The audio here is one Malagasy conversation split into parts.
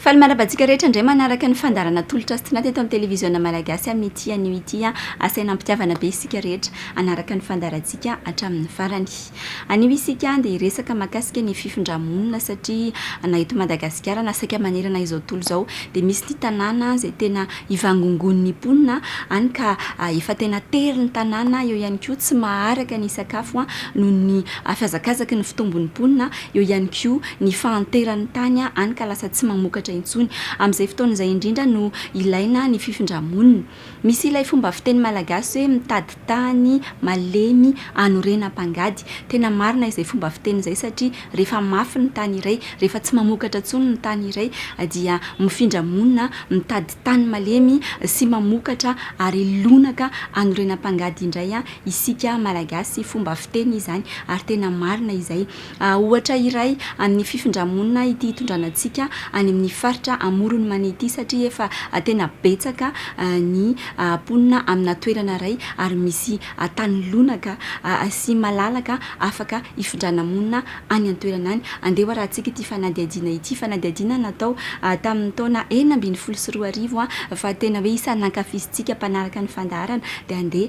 Faly mandrava antsika rehetra indray manaraka ny fandaharana Tolotra sy Tinady eto amin'ny Televiziona Malagasy amin'ity anio ity. Asaina am-pitiavana be isika rehetra hanaraka ny fandaharantsika hatramin'ny farany. Anio isika dia hiresaka mahakasika ny fifindrà-monina satria na eto Madagasikara na saika manerana izao tontolo izao dia misy ny tanàna izay tena Ivangongoan' ny mponina any ka efa tena tery ny tanàna, eo ihany koa tsy maharaka ny sakafo noho ny fihazakazaky ny fitombon' ny mponina, eo ihany koa ny fahanteran' ny tany any ka lasa tsy mamokatra intsony. Amin' izay fotoana izay indrindra no ilaina ny fifindra-monina. Misy ilay fomba fiteny malagasy hoe mitady tany malemy anorenam-pangady. Tena marina izay fomba fiteny izay satria rehefa mafy ny tany iray, rehefa tsy mamokatra intsony ny tany iray dia mifindra monina mitady tany malemy sy mamokatra ary lonaka anorenam-pangady indray isika Malagasy. Fomba fiteny izany ary tena marina izay. Ohatra iray amin'ny fifindra-monina ity hitondrana antsika any amin'ny faritra amoron'ny mania ity satria efa tena betsaka ny mponina amina toerana iray ary misy tany lonaka sy malalaka afaka hifindrana monina any an-toerana any. Andeha hoarahantsika ity fanadihadiana ity, fanadihadiana natao tamin'ny taona enina ambin'ny folo sy roa arivo fa tena hoe isan'ny nankafizintsika mpanaraka ny fandaharana dia andeha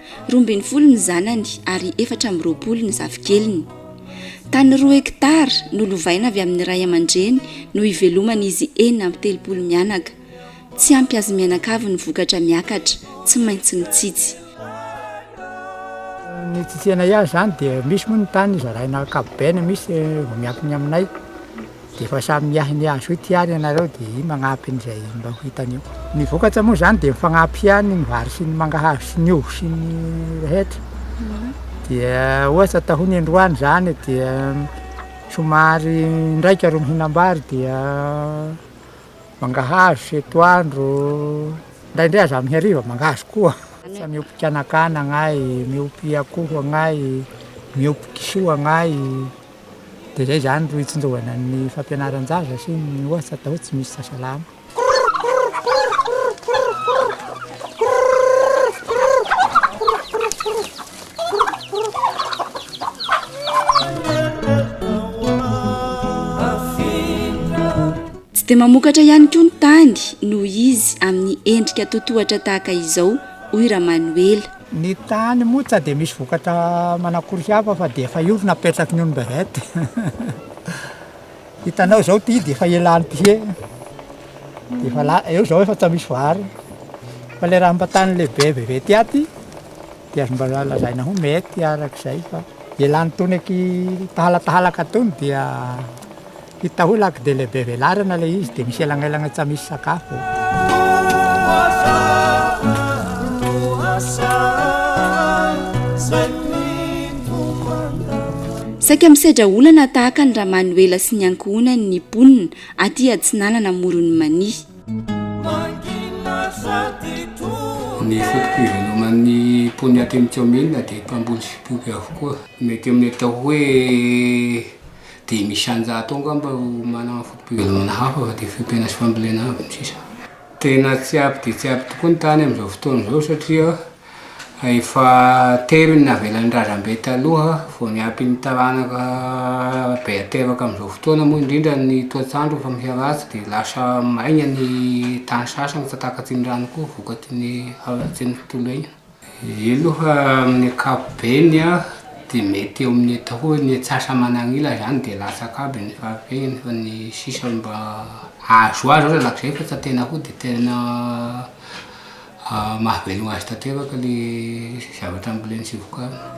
Roa ambin'ny folo ny zanany ary efatra amby roapolo ny zafikeliny. Tany roa hekitara no lovaina avy amin'ny ray aman-dreny no iveloman'izy enina amby telopolo mianaka. Tsy ampy azy mianakavy ny vokatra miakatra, tsy maintsy mitsitsy. Ny tsitsianay azy izany dia misy moa ny tany zaraina ankapobeany, misy miankina aminay. Dia efa samy miahy ny azy hoe ty ary ianareo dia iny magnampy an'izay mba ho hitany eo. Ny vokatra moa izany dia mifagnampy ihany ny vary sy ny mangahazo sy ny ovy sy ny rehetra. Dia ohatra atao ny androany izany dia somary indraika ro mihinam-bary dia mangahazo sy etoandro, indraindray aza amin'ny hariva mangahazo koa. Ohatra miompy kanakana agnay, miompy akoho agnay, miompy kisoa agnay. Dia izay izany no itsinjovana ny fampianaran-jaza sy ny ohatra atao hoe tsy misy sasalama. Tsy dia mamokatra ihany koa ny tany noho izy amin'ny endrika totohatra tahaka izao, hoy Ramanoela. Ny tany moa tsa dia misy vokatra manakory hafa fa dia efa io ry napetraky ny ony Beret. Hitanao izao ity dia efa elan'ny pihé. Dia efa la- eo izao efa tsa misy vary. Fa ilay raha mba tany lehibe be be ty aty dia azo mba lazaina ho mety arak'izay fa elan'itony aky tahalatahalaka itony dia Hita hoe lac de lehibe velarana ilay izy dia misy elangelana tsa misy sakafo. Saika misedra olana tahaka ny Ramanoela sy ny ankohonany ny mponina aty Atsinanana Amoron'i Mania. Ny foto-pivenoman'ny mponina aty amin'ny kaominina dia mpamboly sy mpiompy avokoa. Mety amin'ny atao hoe Dia misy anjato ao angamba ro manana foto-pivelomana hafa fa dia fiompiana sy fambolena avy no sisa. Tena tsy ampy dia tsy ampy tokoa ny tany amin'izao fotoana izao satria efa tery ny navelan'ny razambe taloha vao ny ampian'ny taranaka be ateraka amin'izao fotoana moa indrindra ny toetr'andro efa miharatsy dia lasa maina ny tany sasany fa takatsy ny rano koa vokatry ny haratsian'ny tontolo iainana. Io aloha amin'ny ankapobeny dia mety eo amin'ny atao hoe ny atsasa-manan'ila zany dia latsaka aby ny fahafehiny fa ny sisa mba azo azo aza lakizay fa tsy tena koa dia tena mahavelogna azy tanteraka le zavatra amboleny sy vokariny.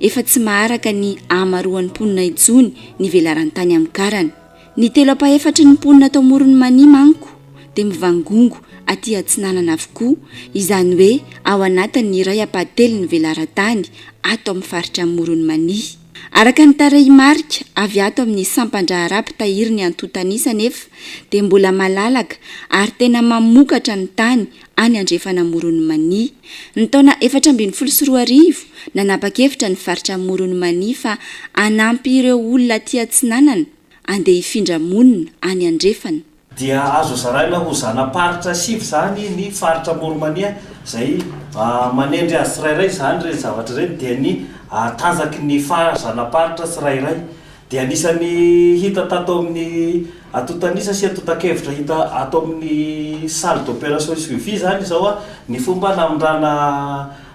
Efa tsy maharaka ny ahamaroan'ny mponina intsony ny velaran-tany amin'ny karana. Ny telo ampahefatry ny mponina tao Morony Mania manko dia mivangongo aty Atsinanana avokoa, izany hoe ao anatin'ny iray ampahatelon'ny velaran-tany ato amin'ny faritra Morony Mania. Araka ny tarehimarika avy ato amin'ny sampan-draharaha mpitahiry ny antontanisa anefa dia mbola malalaka ary tena mamokatra ny tany any Andrefan'Amoron'i Mania. Ny taona efatra ambin'ny folo sy roa arivo, nanapa-kevitra ny faritra Amoron'i Mania fa hanampy ireo olona aty Atsinanana andeha hifindra monina any Andrefana. Dia azo zaraina ho zana-paritra sivy izany ny faritra Amoron'i Mania izay manendry azy tsirairay. Izany ireny zavatra ireny dia ny tanjaky ny zana-paritra tsirairay. dia anisan'ny hita tato amin'ny antontan'isa sy antontan-kevitra hita ato amin'ny Salle d'opération et suivi izany izao ny fomba namindrana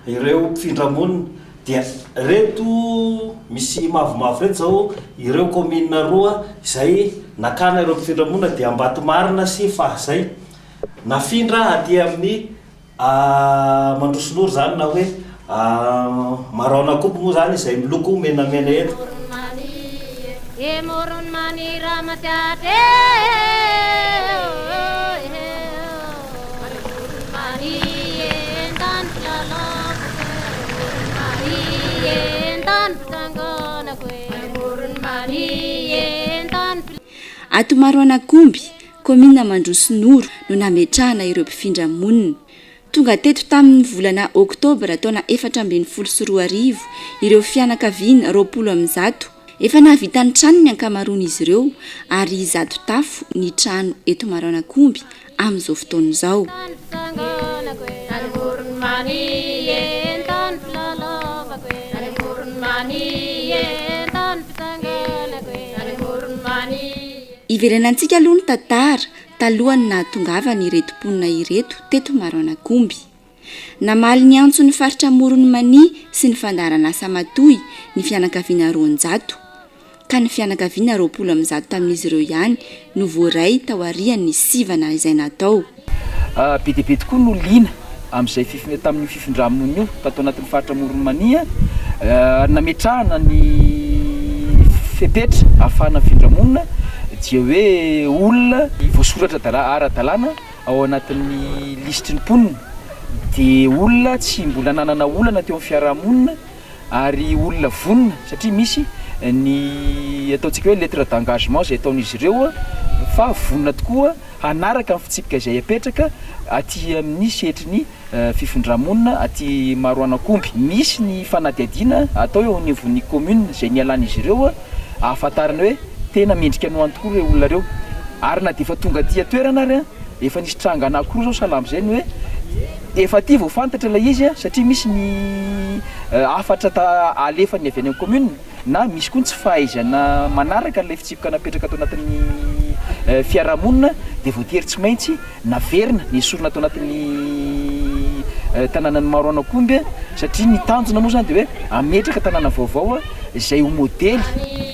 ireo mpifindra monina. Dia ireto misy mavomavo ireto izao ireo kaominina roa izay nakana ireo mpifindra monina dia Ambatomarina sy Fahazay. Nafindra aty amin'ny. Ahh mandroso loro zany na hoe ahh maraona koa moa zany izay miloko menamena eto. Ato Maroanak'omby. Kaominina Mandroso Noro no nametrahana ireo mpifindra monina. Tonga teto tamin'ny volana oktobra taona efatra ambin'ny folo sy roa arivo ireo fianakaviana roapolo amin'ny zato. Efa nahavita ny tranony ny ankamaroan'izy ireo ary zato tafo ny trano eto Maroanakomby amin'izao fotoana izao. Hiverenantsika aloha ny tantara talohan'ny nahatongavany ireto mponina ireto teto Maroanakomby. Namaly ny antson'ny faritra Amoron'i Mania sy ny fandaharan'asa matoy ny fianakaviana roanjato, ka ny fianakaviana roapolo amby zato tamin'izy ireo ihany no voaray taorian'ny sivana izay natao. Be dia be tokoa no liana amin'izay fif- tamin'io fifindra-monina io tato anatin'ny faritra Amoron'i Mania ary nametrahana ny fepetra ahafahana mifindra monina dia hoe olona voasoratra dala- ara-dalàna ao anatin'ny lisitry ny mponina, dia olona tsy mbola nanana olana teo amin'ny fiaraha-monina. ary olona vonona satria misy ny ataontsika hoe lettre d'engagement izay ataon'izy ireo fa vonona tokoa hanaraka ny fitsipika izay apetraka aty amin'ny sehatry ny fifindra-monina aty Maroanakomby. Misy ny fanadihadiana atao eo anivon'ny commune izay nialan'izy ireo ahafantarana hoe tena mendrika ny ho any tokoa ireo olona ireo ary na dia efa tonga aty an-toerana ary. Efa nisy tranga anankiroa zao salama zay ny hoe efa aty vao fantatra ilay izy a, satria misy ny hafatra ta- alefany avy any amin'ny commune na misy koa ny tsy fahaizana manaraka an'ilay fitsipika napetraka ato anatin'ny fiarahamonina de voatery tsy maintsy naverina nesorina ato anatin'ny tanànan'i Maroanankomby a, satria ny tanjona moa zany de hoe hametraka tanàna vaovao a izay ho modely.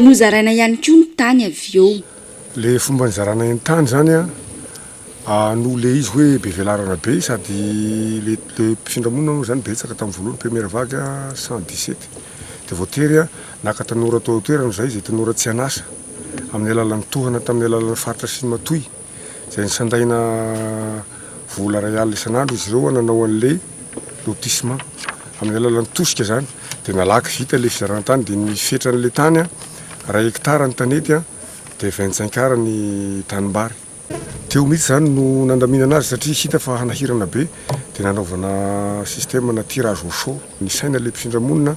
Nozaraina ihany koa ny tany avy eo. Le fomba nizarana ny tany zany an, noho le izy hoe be velarana be sady le mpifindra monina moa zany betsaka tamin'ny voalohany première vague an, cent dix sept, de voatery an naka tanora tao an-toerana izay, izay tanora tsy an'asa amin'ny alalan'ny tohana tamin'ny alalan'ny faritra sy ny matoy. izay nisandaina vola iray alina isan'andro izy ireo hananao an'ilay lotissement amin'ny alalan'ny tosika izany dia nalaky vita ilay fizaran-tany dia ny fetran'ilay tany a iray hectare ny tanety a dia vingt cinq ar ny tanimbary teo mihitsy izany no nandaminana azy satria hita fa hanahirana be dia nanaovana système na tirage au chaud nisaina ilay mpifindramonina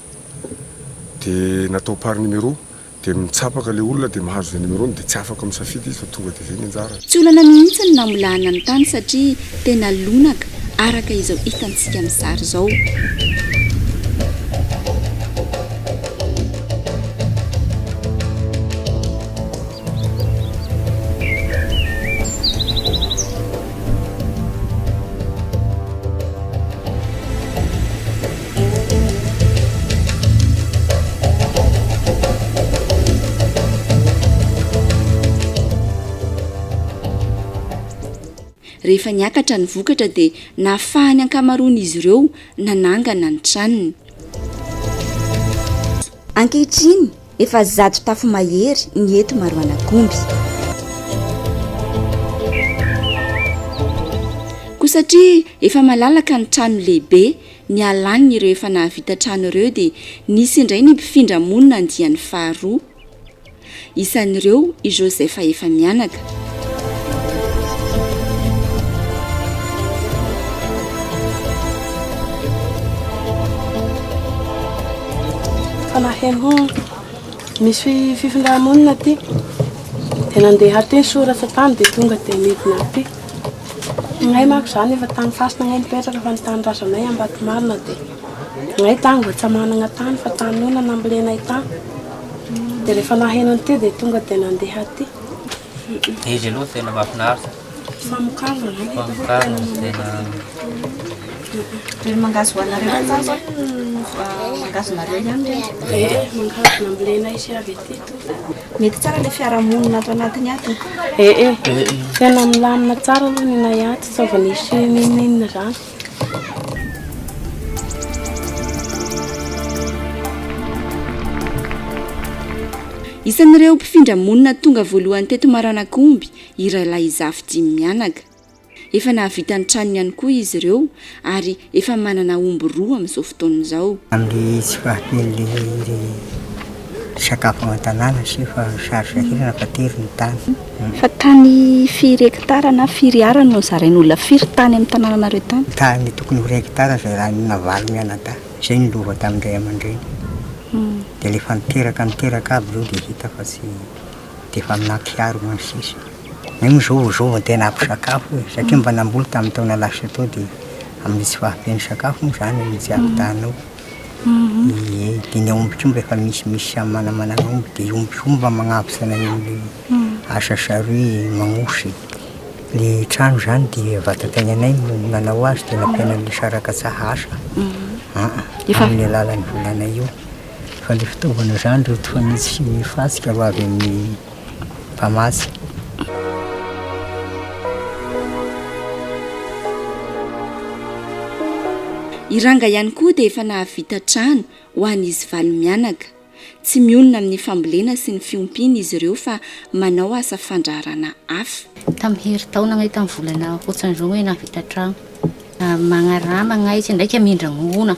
dia natao par numéro Dia mitsapaka ilay olona dia mahazo izay numerony dia tsy afaka misafidy izy fa tonga dia izay ny anjarany. Tsy olana mihitsy ny namolahana ny tany satria tena lonaka araka izao hitantsika amin'ny sary izao. Rehefa niakatra ny vokatra dia nahafahan'ny ankamaroan'izy ireo nanangana ny tranony. Ankehitriny, efa zato tafo mahery ny eto Maroanakomby. Koa satria efa malalaka ny trano lehibe Nialany ireo efa nahavita trano ireo dia nisy indray ny mpifindra monina andiany faharoa. Isan'ireo i Joseph efa mianaka. Fanahiko misy fifindra-monina aty dia nandeha aty ny soratra tany dia tonga dia nidina aty. Izahay manko izany efa tany fasina ange nipetraka fa ny tanindrazanay Ambatomarina dia izahay tany mba tsy manana tany fa tany ona nambolenay tany dia rehefa naheno an'ity dia tonga dia nandeha aty. Izy aloha tena mahafinaritra. Famokarana izany. Famokarana tena. Mangahazo hoanareo any sa mangahazo nareo ihany ve? Mangahazo nambolenay sy avy aty. Mety tsara le fiarahamonina ato anatiny ato e. Eh eh. Tena milamina tsara aloha ny nay ato, tsy avy nisy n'inon'inona zany. Isan'ireo mpifindra monina tonga voalohany teto Maranakomby i Railahy Zafy dimy mianaka. Efa nahavita ny tranony ihany koa izy ireo ary efa manana omby roa amin'izao fotoana izao. Amin'ny tsy fahampian'ny sakafo ao an-tanàna sy efa sary sahirana fa tery ny tany. Fa tany firy hekitara na firy ara no zarain'olona firy tany amin'ny tanànanareo tany? Tany tokony ho iray hekitara zarain'ny navalo mianadahy. Izay no lova tamin'ny ray aman-dreny. Dia ilay fa niteraka niteraka aby ireo dia hita fa tsy de efa amina tiara ho any sisa, io moa zao zao vao tena ampy sakafo e, satria mba namboly tamin'ny taona lasa tao de amin'ny tsy fahampian'ny sakafo moa zany no tsy ampitahana ao, ie de ny aomby koa mba efa misy misy samy manamana ny omby de io omby io mba magnabosana eo amle asa saroy magnosy le trano zany de vadam-piainanay no nanao azy de nampianarin'ny sara-katsaha asa, aa, amin'ny alalan'ny volanay io. Fa le fitaovana zany ry reto fa misy fasika ho avy amin'ny mpamatsy. I Ranga ihany koa dia efa nahavita trano ho an'izy valo mianaka. Tsy mionona amin'ny fambolena sy ny fiompiana izy ireo fa manao asa fandraharana hafa. Tamin'ny herintaona angaha tamin'ny volana hoatran'izao hoe nahavita trano. Magnarama angaha izy ndraika mindra-mongoana.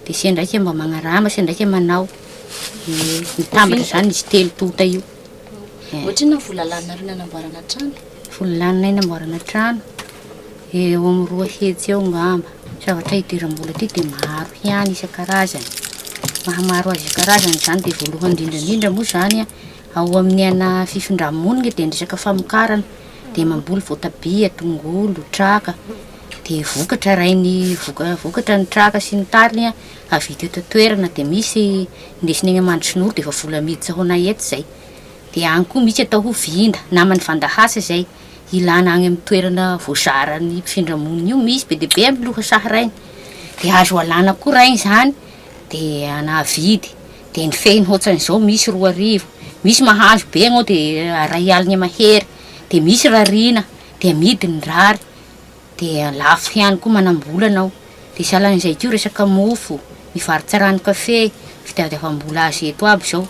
Dia sendran'ika mba magnarama, sendran'ika manao. Dia mitambatra izany izy telo tonta io. Ohatrinona ny vola laninareo nanamboarana trano? Vola laninay namboarana trano, eo amin'ny roa hetsy eo angamba. Zavatra idiram-bola aty dia maro ihany isan-karazany. Mahamaro azy isan-karazany izany dia voalohany indrindra indrindra moa izany an, ao amin'ny ana fifindra-monina dia ny resaka famokarana, dia mamboly voatabia, tongolo, traka. dia vokatra rain'ny voka- vokatra ny traka sy ny tariny an, avy eto eto an-toerana dia misy indesina eny Amandrotsinoro dia efa vola miditra ho anay eto izay. Dia any koa misy atao hoe vinda, naman'ny vandahasa izay, ilana any amin'ny toerana voazaran'ny mpifindra monina io, misy be dia be amin'ny lohasaha rainy, dia azo alana koa rainy izany dia anahavidy, dia ny fehiny hoatran'izao misy roa arivo, misy mahazo be anao dia iray alina mahery, dia misy rariana dia amidy ny rary. de lafo ihany koa manambolana ao de sahalan'izay ko resaka mofo, ny varotra rano kafe, fitadiavam-bola azy eto aby zao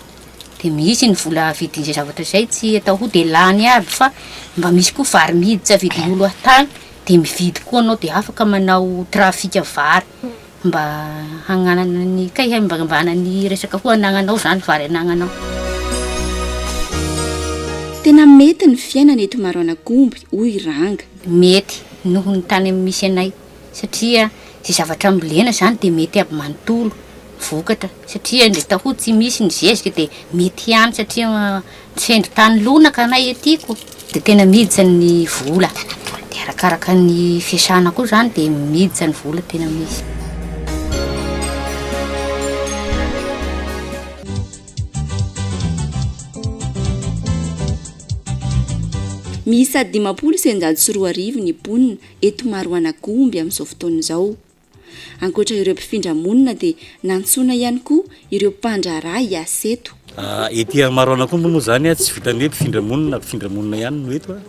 de misy ny vola vidin'izay zavatra zay tsy atao ho de lany aby fa mba misy koa vary miditra vidin'olo aty tany de mividy koa anao de afaka manao trafic vary Mba hagnanana ny kay hay mba hanambahana ny resaka ho anagnanao zany vary anagnanao. Tena mety ny fiainana eto Maroanagomby hoy Ranga. Mety noho ny tany misy anay satria ze zavatra ambolena zany de mety aby manontolo vokatra satria ndre tahoa tsy misy ny zezika de mety ihany satria Tsy hendry tany lonaka anay ety ko de tena miditra ny vola de arakaraka ny fiasana koa zany de miditra ny vola tena misy. Miisa dimampolo sy eninjato sy roa arivo ny mponina eto Maroanagomby amin'izao fotoana izao. Ankoatra ireo mpifindra monina dia nantsoina ihany koa ireo mpandraharaha hiasa eto. Ety Maroanakombo moa izany tsy vitan'ny hoe mpifindra monina mpifindra monina ihany no eto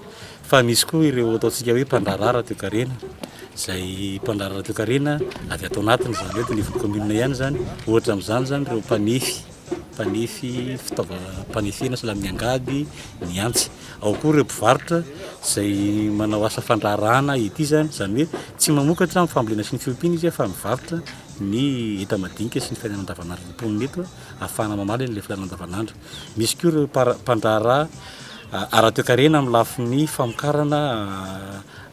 fa misy koa ireo ataontsika hoe mpandraharaha raha toekarena izay mpandraharaha raha toekarena avy ato anatiny izany hoe eto anivon'ny commune ihany izany. Ohatra amin'izany izany ireo mpanefy. mpanefy fitaovam-panefena sy lamin'ny angady ny antsy. Ao koa ireo mpivarotra izay manao asa fandraharahana ety izany, izany hoe tsy mamokatra amin'ny fambolena sy ny fiompiana izy fa mivarotra ny enta-madinika sy ny fiainana andavanandron'ny mponina eto ahafahana mamaly an'ilay filàna andavanandro. Misy koa ireo mpara- mpandraharaha ara-toekarena amin'ny lafiny famokarana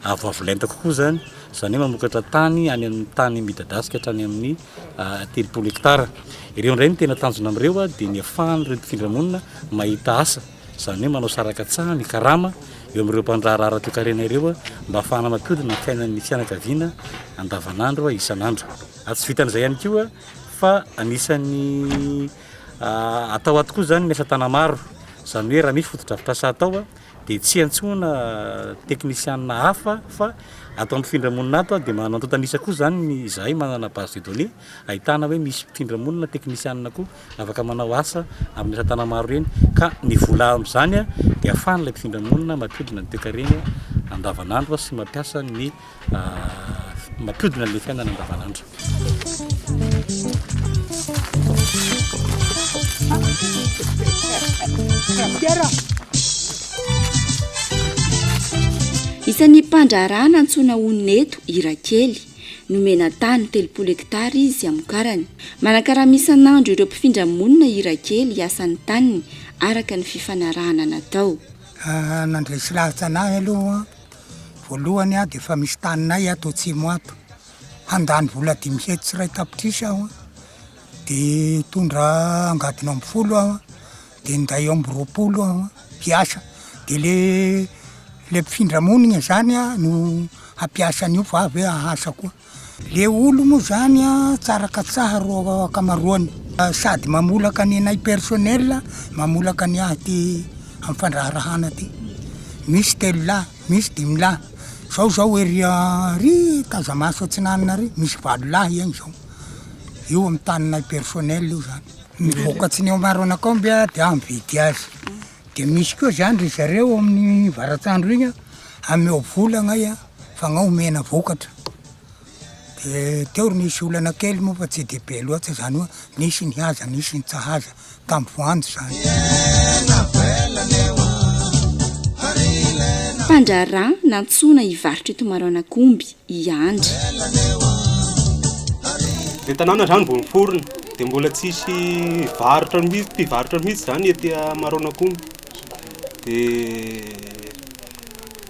avoavo lenta kokoa izany, izany hoe mamokatra tany any amin'ny tany midadasika hatrany amin'ny telopolo hectare. Ireo indray no tena tanjona amin'ireo dia ny ahafahan'ireo mpifindra monina mahita asa, izany hoe manao sarakatsaha, ny karama eo amin'ireo mpandraharaha ara-toekarena ireo mba ahafahana mampihodina ny fiainan'ny fianakaviana andavanandro, isan'andro. Tsy vitan'izay ihany koa fa anisan'ny atao ato koa izany ny asa tanamaro, izany hoe raha misy fotodrafitrasa atao dia tsy hiantsoana teknisianina hafa fa ato mpifindra monina ato dia manana antontan'isa koa izany ny izahay manana base de données ahitana hoe misy mpifindra monina teknisianina koa afaka manao asa amin'ny asa tana maro ireny ka ny vola amin'izany dia ahafahan'ilay mpifindra monina mampiodina ny toekarena andavanandro sy mampiasa ny mampodina ny fiainana andavanandro. Isan'ny mpandraharaha nantsoina honina eto i Rakely. Nomena tany telopolo hektara izy hamokarany. Manakarama isan'andro ireo mpifindra monina i Rakely hiasa ny taniny araka ny fifanarahana natao. Ah, nandresy lahatra anahy aloha Voalohany aho dia efa misy taninay ato atsimo ato, handany vola dimy hetsy sy iray tapitrisa aho an, dia hitondra angady enina ambin'ny folo aho an, dia hinday omby roapolo aho an, hiasa, dia le le mpifindra monina zany an no hampiasa an'io fa avy eo hahasa koa. Le olo moa zany a tsara katsaha ro akamaroany sady mamolaka ny anay personnel mamolaka ny ahy ty am fandraharahana ty misy telo lahy misy dimy lahy zao zao ery a ry tazamasy atsinanana ry misy valo lahy egny zao io am taninay personnel io zany ny vokatsin'ny ao maroanakao mbe a de aho mividy azy Dia misy koa zany ry zareo amin'ny varatsandro iny hameo vola angahy a, f'angaha omena vokatra. Dia teo ry nisy olana kely moa fa tsy dia be loatra zany hoe nisy ny haza nisy ny tsahaza tamin'ny voanjo zany. Mpandraharaha nantsoina hivarotra eto Maroanankomby. i Andry. Le tanàna zany mbola miforona de mbola tsisy varotra mihitsy mpivarotra mihitsy zany ety Maroanak'omby de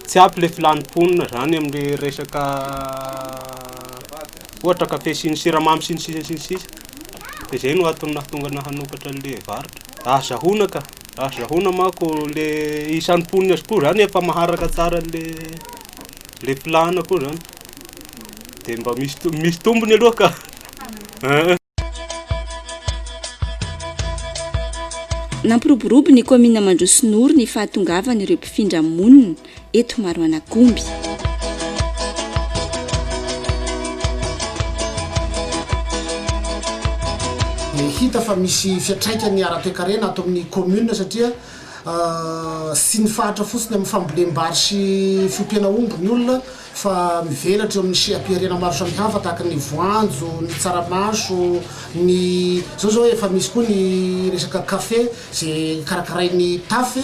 tsy ampy le filàn'ny mponina zany amle resaka ohatra kafe sy ny siramamy sy ny sisa sy ny sisa de zay no antony nahatonga anah hanokatra anle varotra raha zahona ka raha zahona manko le isan'ny mponina koa zany efa maharaka tsara anle Le plan koa zany de mba misy to- misy tombony aloha ka eh. Nampiroborobo ny kaominina Mandrosinoro ny fahatongavan'ireo mpifindra monina eto Maroanakomby. Hita fa misy fiantraikany ara-toekarena ato amin'ny commune satria Tsy mifahatra fotsiny amin'ny fambolem-bary sy fiompiana omby ny olona fa mivelatra eo amin'ny seha-pihariana maro samihafa tahaka ny voanjo, ny tsaramaso, ny izao izao efa misy koa ny resaka kafe izay karakarain'ny Taf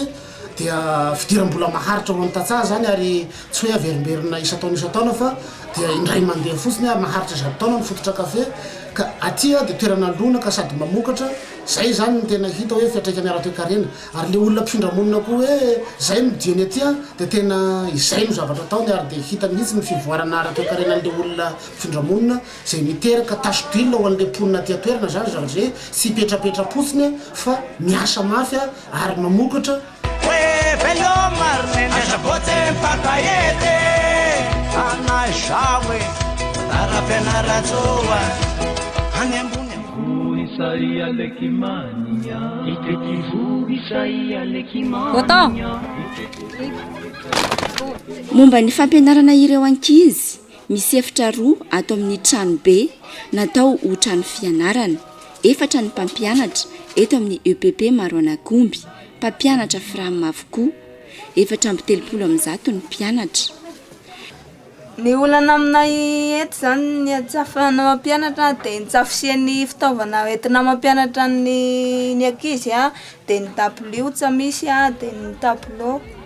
dia fidiram-bola maharitra ho an'ny tantsaha izany ary tsy hoe averimberina isan-taona isan-taona fa dia indray mandeha fotsiny ary maharitra zato taona ny fototra kafe ka aty dia toerana lonaka sady mamokatra Zay zany no tena hita hoe fiatraikany ara-toekarena. Ary le olona mpifindra monina koa hoe zay no dieny aty an, dia tena izay no zavatra ataony ary dia hita mihitsy ny fivoarana ara-toekarenan'le olona mpifindra monina izay miteraka tache d'huile ao an'le mponina aty an-toerana zany zavatra izay, tsy hipetrapetra-potsiny fa miasa mafy ary mamokatra. Momba ny fampianarana ireo ankizy, misy efitra roa ato amin'ny tranobe natao ho trano fianarana. Efatra ny mpampianatra eto amin'ny EPP Maroanakomby, mpampianatra Fram avokoa. Efatra amby telopolo amin'ny zato ny mpianatra. Ny olana aminay eto izany ny tsy ahafahana mampianatra dia ny tsy hafisian'ny fitaovana entina mampianatra ny ankizy dia ny dabilio tsy misy dia ny tabilao.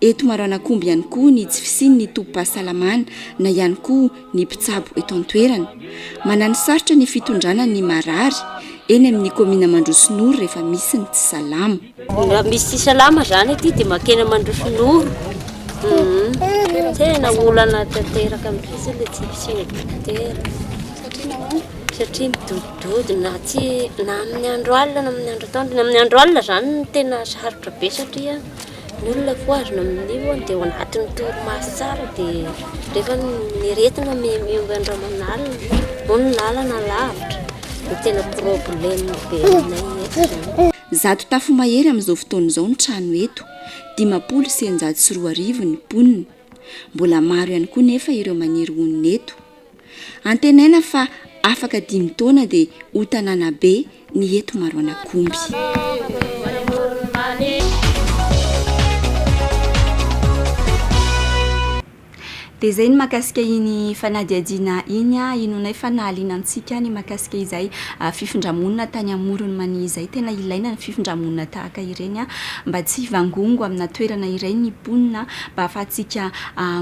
Eto Maroanakomby ihany koa ny tsy fisian'ny tobim-pahasalamana na ihany koa ny mpitsabo eto an-toerana. Manano sarotra ny fitondrana ny marary eny amin'ny kaominina Mandrosinoro rehefa misy ny tsy salama. Raha misy tsy salama izany aty dia mankeny Mandrosinoro. Tena olana tanteraka mihitsy ilay tsy fisian'ny dokotera. Satria nahoana? Satria midodidody na tsy na amin'ny andro alina na amin'ny andro atoandro. Ny amin'ny andro alina izany no tena sarotra be satria Ny olona voahazona amin'io dia ao anatin'ny torimaso tsara dia rehefa ny aretina mihomehimehy andro aman'alina moa ny lalana lavitra dia tena problème be aminay eto izany. Zato tafo mahery amin'izao fotoana izao ny trano eto, dimampolo sy eninjato sy roa arivo ny mponina. Mbola maro ihany koa nefa ireo maniry honina eto. Antenaina fa afaka dimy taona dia ho tanàna be ny eto Maroanankomby. Dia izay ny mahakasika iny fanadihadiana iny. Inoanay fa nahaliana antsika ny mahakasika izay fifindra-monina tany Amoron'i Mania izay. Tena ilaina ny fifindra-monina tahaka ireny mba tsy hivangongo amina toerana iray ny mponina mba hahafahantsika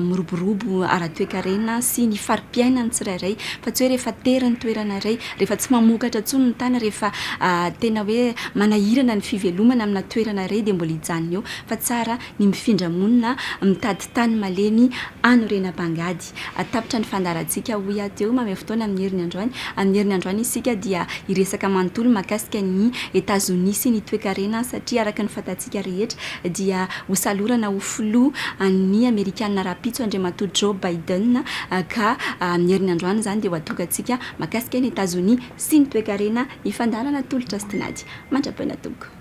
miroborobo ara-toekarena sy ny fari-piainan'ny tsirairay fa tsy hoe rehefa tery ny toerana iray, rehefa tsy mamokatra intsony ny tany, rehefa tena hoe manahirana ny fivelomana amina toerana iray dia mbola hijanona eo fa tsara ny mifindra monina mitady tany malemy hanorenam-pangady. Tapitra ny fandaharantsika hoy aho teo, mamehy fotoana amin'ny heriny androany. Amin'ny heriny androany isika dia hiresaka manontolo mahakasika an'i Etazonia sy ny toekarena satria araka ny fantatsika rehetra, dia ho salorana ho filoha an'ny Amerikana rahampitso Andriamatoa Joe Biden ka amin'ny herinandro any izany dia ho adrokantsika mahakasika an'i Etazonia sy ny toekarena hifandalana tolotra sy tinady mandrapaina tompoko.